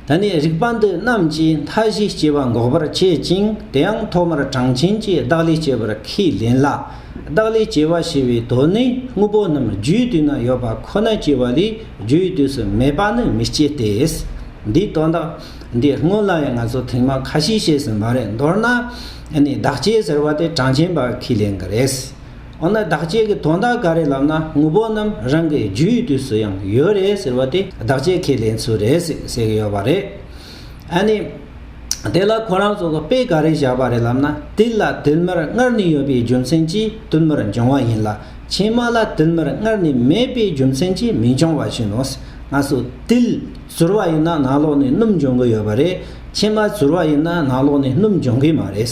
ད་ནི་རིག་པ་འདི་རྣམས་ཀྱིས་མཐའ་བཞིའི་སྐྱེ་བ་འགོག་པར་བྱེད་ཅིང་དེའང་ཐོག་མར་གྲངས་ཆེན་གྱི་བདག་ལས་སྐྱེ་བར་ཁས་ལེན་ལ། བདག་ལས་སྐྱེ་བ་ཞེས་པའི་དོན་ནི་དངོས་པོ་རྣམས་རྒྱུའི་དུས་ན་ཡོད་པ་ཁོ་ན་སྐྱེ་བ་ལས་རྒྱུའི་དུས་སུ་མེད་པ་ནི་མི་སྐྱེ་སྟེ། འདིའི་དོན་དག་འདི་སྔོན་ལ་ཡང་ང་ཚོས་ཐེངས་མང་ཁ་ཤས་བཤད་ཟིན་པ་རེད་མདོར་ན་ནི་བདག་སྐྱེ་ཟེར་བ་དེ་གྲངས་ཆེན་པ་ཁས་ལེན་གྱི་རེད། འོ་ན་བདག་བསྐྱེད་ཀྱི་དོན་དག་ག་རེ་ལབ་ན་དངོས་པོ་རྣམས་རང་གི་རྒྱུ་ཡི་དུས་སུ་ཡང་ཡོད་རེད་ཟེར་བ་དེ་བདག་བསྐྱེད་ཁས་ལེན་ཚུལ་རེད་ཟེར་གྱི་ཡོད་པ་རེད། ཨ་ནི། དེ་ལ་ཁོ་རང་ཚོ་གི་དཔེ་ག་རེ་བཞག་པ་རེད་ལབ་ན་དུས་ལ་དུས་མར་སྔར་ནས་ཡོད་པའི་རྒྱུ་མཚན་གྱིས་དུས་མར་འབྱུང་བ་ཡིན་ལ་ཕྱི་མ་ལ་དུས་མར་སྔར་ནས་མེད་པའི་རྒྱུ་མཚན་གྱིས་མི་འབྱུང་བ་བཞིན་ནོ། སྔ་སོ་དུས་ཟུར་བ་ཡིན་ན་ནང་ལོགས་ནས་སྣུམ་འབྱུང་གི་ཡོད་པ་རེད། ཕྱི་མ་ཟུར་བ་ཡིན་ན་ནང་ལོགས་ནས་སྣུམ་འབྱུང་གི་མ་རེད།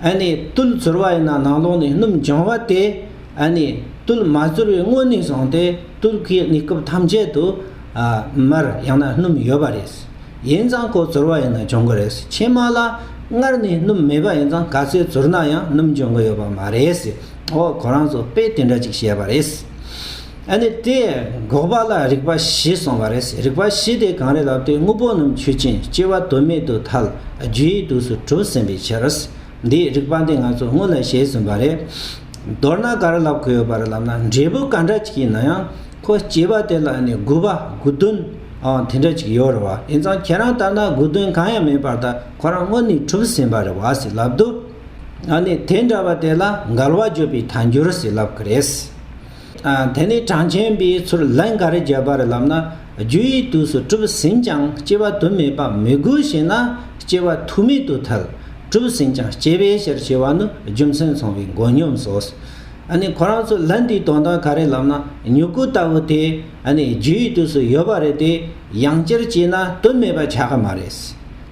ཨ་ནི་རྟུལ་ཚོར་བ་ཡིན་ན་ནང་ལོགས་ནས་སྣུམ་འབྱུང་བ་སྟེ། ཨ་ནི་རྟུལ་མ་ཚོར་བའི་སྔོན་ནས་བཟུང་སྟེ་རྟུལ་གྱི་གནས་སྐབས་ཐམས་ཅད་དུ། མར་ཡང་ན་སྣུམ་ཡོད་པ་རེད། ཡིན་ཙང་གོ་ཚོར་བ་ཡིན་ན་འབྱུང་གི་རེད། ཕྱི་མ་ལ་སྔར་ནས་སྣུམ་མེད་པ་ཡིན་ཙང་ག་ཚོད་ཚོར་ན་ཡང་སྣུམ་འབྱུང་གི་ཡོད་པ་མ་རེད། འོ་གོ་རང་ཚོ་དཔེ་དེ་འདྲ་ཅིག་བཤད་པ་རེད། ཨ་ནི་དེ་འགོག་པ་ལ་རིག་པ་བཞི་གསུངས་པ་རེད། རིག་པ་བཞི་དེ་གང་རེད་ལབ་དུས་དངོས་པོ་རྣམས་ཆོས་ཅན། སྐྱེ་བ་དོན་མེད་དུ་ཐལ། རྒྱུ་ཡི་དུས་སུ་གྲོལ་ཟིན་པའི་ཕྱིར། འདིའི་རིག་པ་འདི་ང་ཚོ་སྔོན་ལ་བཤད་ཟིན་པ་རེད། མདོར་ན་ག་རེ་ལབ་དགོས་ཡོད་པ་རེད་ལབ་ན་འབྲས་བུ་ག་འདྲ་ཅིག་ཡིན་ན་ཡང། ཁོ་སྐྱེས་པ་དེ་ལ་ཨ་ནི་དགུ་པ་དགུ་བདུན། འང་དེ་འདྲ་ཅིག་ཡོད་རེད་བ། དེང་སང་ཁྱེད་རང་ལྟར་ན་དགུ་བདུན་གང་ཡང་མེད་པར་ད་ཁོ་རང་སྔོན་ནས་གྲུབ་ཟིན་པ་རེད་བ་ཟེར་ལབ་དུས། ཨ་ནི་དེ་འདྲ་བ་དེ་ལ་འགལ་བ་བརྗོད་པའི་ཐལ་འགྱུར་ཟེར་ལབ་གི་རེད། དེ་ནས་གྲངས་ཅན་པའི་ཚུར་ལན་ག་རེ་བརྒྱབ་པ་རེད་ལབ་ན་རྒྱུ་ཡི་དུས་སུ་གྲུབ་ཟིན་ཀྱང་སྐྱེ་བ་དུ་མས་པ་མི་དགོས་ཞེ་ན་སྐྱེ་བ་དུ་མེད་དུ་ཐལ། གྲུབ་ཟིན་ཀྱང་སྐྱེ་བའི་ཕྱིར་ཞེས་བ་ནི་རྒྱུ་མཚན་ཚང་བའི་མགོ་སྙོམས་སོ། ཨ་ནི་ཁོ་རང་ཚོ་ལན་དེའི་དོན་དག་ག་རེ་ལབ་ན་མྱུ་གུ་ལྟ་བུ་དེ་ཨ་ནི་རྒྱུ་ཡི་དུས་སུ་ཡོད་པ་རེད་དེ་ཡང་སྤྱིར་སྐྱེས་ན་དུ་མས་པ་ཆགས་ཀྱི་མ་རེད།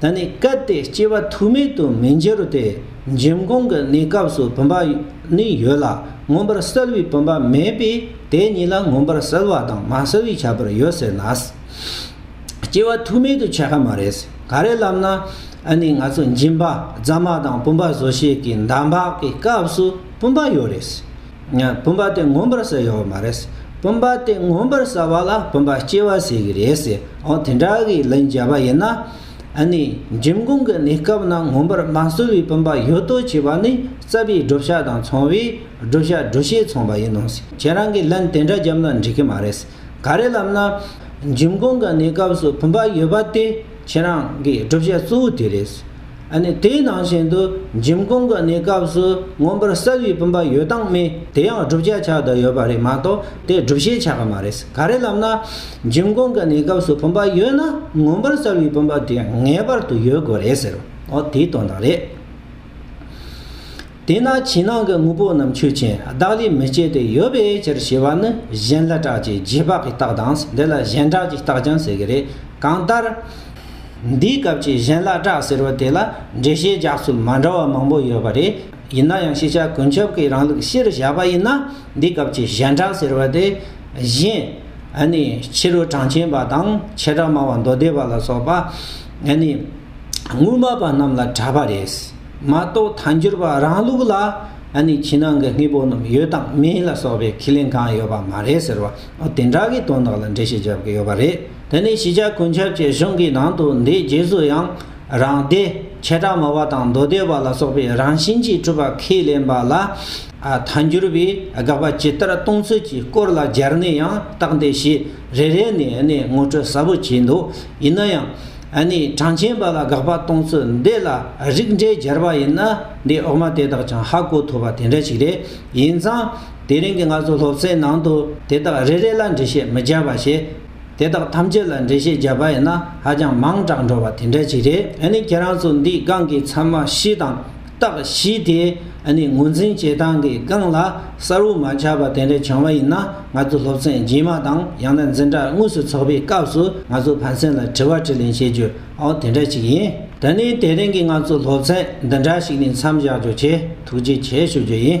ད་ནི་སྐབས་དེའི་སྐྱེ་བ་ཐུག་མེད་དུ་མི་འགྱུར་ཏེ་འབྱིན་གོང་གི་གནས་སྐབས་སུ་བུམ་པ་ནི་ཡོད་ལ་མངོན་པར་གསལ་བའི་བུམ་པ་མེད་པས་དེ་གཉིས་ལ་མངོན་པར་གསལ་བ་དང་མ་གསལ་བའི་ཁྱད་པར་ཡོད་ཟེར་ན། སྐྱེ་བ་ཐུག་མེད་དུ་ཆགས་ཀ་མ་རེད། ག་རེ་ལབ་ན། ཨ་ནི་ང་ཚོ་འབྱིན་པ་རྫ་མ་དང་བུམ་པ་བཟོ་བྱེད་ཀྱི་འདམ་བག་གི་སྐབས་སུ་བུམ་པ་ཡོད་རེད། བུམ་པ་དེ་ངོམས་པར་ཟེར་ཡོད་མ་རེད། བུམ་པ་དེ་ངོམས་པར་ཟ་བ་ལ་བུམ་པ་སྐྱེ་བ་ཟེར་གྱི་རེད། འོ་དེ་འདྲ་གི་ལན་བརྒྱབ་པ་ཡིན་ན། ནི་འཇིམ་སྐུང་གི་གནས་སྐབས་ན་ངོམས་པར་མ་བཟོ་བའི་བུམ་པ་ཡོད་དོ་བྱས་པ་ནི་རྩ་བའི་བགྲོད་བྱ་དང་ཚོང་བའི་བགྲོད་བྱ་བགྲོད་བྱེད་ཚོང་པ་ཡིན་ནོ། ཁྱེད་རང་གིས་ལན་དེ་འདྲ་བརྒྱབ་ན་འགྲིག་གི་མ་རེད། ག་རེ་ལབ་ན། འཇིམ་སྐུང་གི་གནས་སྐབས་སུ་བུམ་པ་ཡོད་པ་དེ་ཁྱེད་རང་གི་བགྲོད་བྱ་གཙོ་བོ་དེ་རེད། དེའི་ནང་བཞིན་དུ་འཇིམ་སྐོང་གི་གནས་སྐབས་སུ་མངོན་པར་གསལ་བའི་བུམ་པ་ཡོད་སྟངས་མེད་དེ་ཡང་བསྒྲུབ་བྱ་ཆགས་བསྡད་ཡོད་པ་རེད་མ་གཏོགས་དེ་བསྒྲུབ་བྱའི་ཆགས་པ་མ་རེད་ག་རེ་ལབ་ན། འཇིམ་སྐོང་གི་གནས་སྐབས་སུ་བུམ་པ་ཡོད་ན་མངོན་པར་གསལ་བའི་བུམ་པ་དེ་ངེས་པར་དུ་ཡོད་དགོས་རེད་ཟེར། འོ་དེའི་དོན་དག་རེད། དེས་ན་ཕྱི་ནང་གི་དངོས་པོ་རྣམས་ཆོས་ཅན་བདག་ལས་མི་སྐྱེ་སྟེ་ཡོད་པའི་ཕྱིར་ཞེས་པ་ནི་གཞན་ལ་གྲགས་ཀྱི་རྗེས་དཔག་གི་རྟགས་དང་འདི་ལ་གཞན་གྲགས་ཀྱི་རྟགས་ཀྱང་ཟེར་གྱི་རེད་གང་ལྟར། འདིའི་སྐབས་ཀྱི་གཞན་ལ་གྲགས་ཟེར་བ་དེ་ལ་འགྲེལ་བཤད་རྒྱག་ཚུལ་མ་འདྲ་བ་མང་པོ་ཡོད་པ་རེད། ཡིན་ན་ཡང་ཤེས་བྱ་ཀུན་ཁྱབ་ཀྱི་རང་ལུགས་གཞིར་བཞག་པ་ཡིན་ན་འདིའི་སྐབས་ཀྱི་གཞན་གྲགས་ཟེར་བ་དེ་གཞན། ནི་ཕྱི་རོལ་གྲངས་ཅན་པ་དང་ཆེ་གྲགས་སྨྲ་བ་མདོ་སྡེ་པ་ལ་སོགས་པ། ནི་དངོས་སྨྲ་པ་རྣམས་ལ་གྲགས་པ་རེད། མ་གཏོགས་དལ་འབྱོར་པ་རང་ལུགས་ལ་ཨ་ནི་ཕྱི་ནང་གི་དངོས་པོ་རྣམས་ཡོད་དང་མེད་ལ་སོགས་པའི་ཁས་ལེན་གང་ཡོད་པ་མ་རེད་ཟེར་བ་འོ་དེ་འདྲ་གི་དོན་དག་ལ་འགྲེལ་བཤད་རྒྱབ་ཀྱི་ཡོད་པ་རེད་དེ་ནས་གཞིས་ཆགས་ཀུན་ཁྱབ་ཀྱི་གཞུང་གི་ནང་དུ་འདིའི་རྗེས་སུ་ཡང་རང་སྡེ་ཆེ་གྲགས་མོ་བ་དང་མདོ་སྡེ་བ་ལ་སོགས་པའི་རང་བཞིན་གྱིས་གྲུབ་པ་ཁས་ལེན་པ་ལ་དལ་འབྱོར་པའི་དགག་པ་ཇི་ལྟར་གཏོང་ཚུལ་གྱི་སྐོར་ལ་སྦྱར་ནས་ཡང་བརྟག་འདི་ཞེས་རེ་རེ་ནས་ཨ་ནི་ངོ་སྤྲོད་ཟབ་པོ་བྱས་འདུག་ཡིན་ན་ཡང། ཨ་ནི་གྲངས་ཅན་པ་ལ་དགག་པ་གཏོང་ཚུལ་འདི་ལ་རིགས་འགྲེ་སྦྱར་བ་ཡིན་ན་འདིའི་འོག་མ་དེ་དག་ཀྱང་ཧ་གོ་ཐུབ་པ་དེ་འདྲ་ཞིག་རེད། ཡིན་ཙང། དེ་རིང་གི་ང་ཚོ་སློབ་ཚན་ནང་དུ་དེ་དག་རེ་རེ་ལ་འགྲེལ་བཤད་མི་སྦྱར་བར་བྱས། དེ་དག་ཐམས་ཅད་ལ་འགྲེལ་བཤད་སྦྱར་པ་ཡིན་ན་ཧ་ཅང་མང་དྲགས་འགྲོ་བ་དེ་འདྲ་ཞིག་རེད། ཨ་ནི་ཁྱེད་རང་ཚོ་འདིའི་སྒང་གི་ཚང་མ་ཤི་དང། རྟགས་བཞི་དེ་ནི་ངོས་འཛིན་བྱེད་སྟངས་ཀྱི་རྐང་ལག་གསར་བོ་མ་ཆགས་པ་དེ་འདྲ་བྱུང་བ་ཡིན་ན་ང་ཚོ་སློབ་ཚན་རྗེས་མ་དང་ཡང་ན་འཛིན་གྲྭ་དངོས་སུ་འཚོགས་པའི་སྐབས་སུ་ང་ཚོ་ཕན་ཚུན་ལ་དྲི་བ་དྲིས་ལན་བྱེད་རྒྱུ་འོ་དེ་འདྲ་ཞིག་ཡིན། ད་ནི་དེ་རིང་གི་ང་ཚོའི་སློབ་ཚན་འདི་འདྲ་ཞིག་ནས་མཚམས་བཞག་རྒྱུ་བྱེད་ཐུགས་རྗེ་ཆེ་ཞུ་རྒྱུ་ཡིན།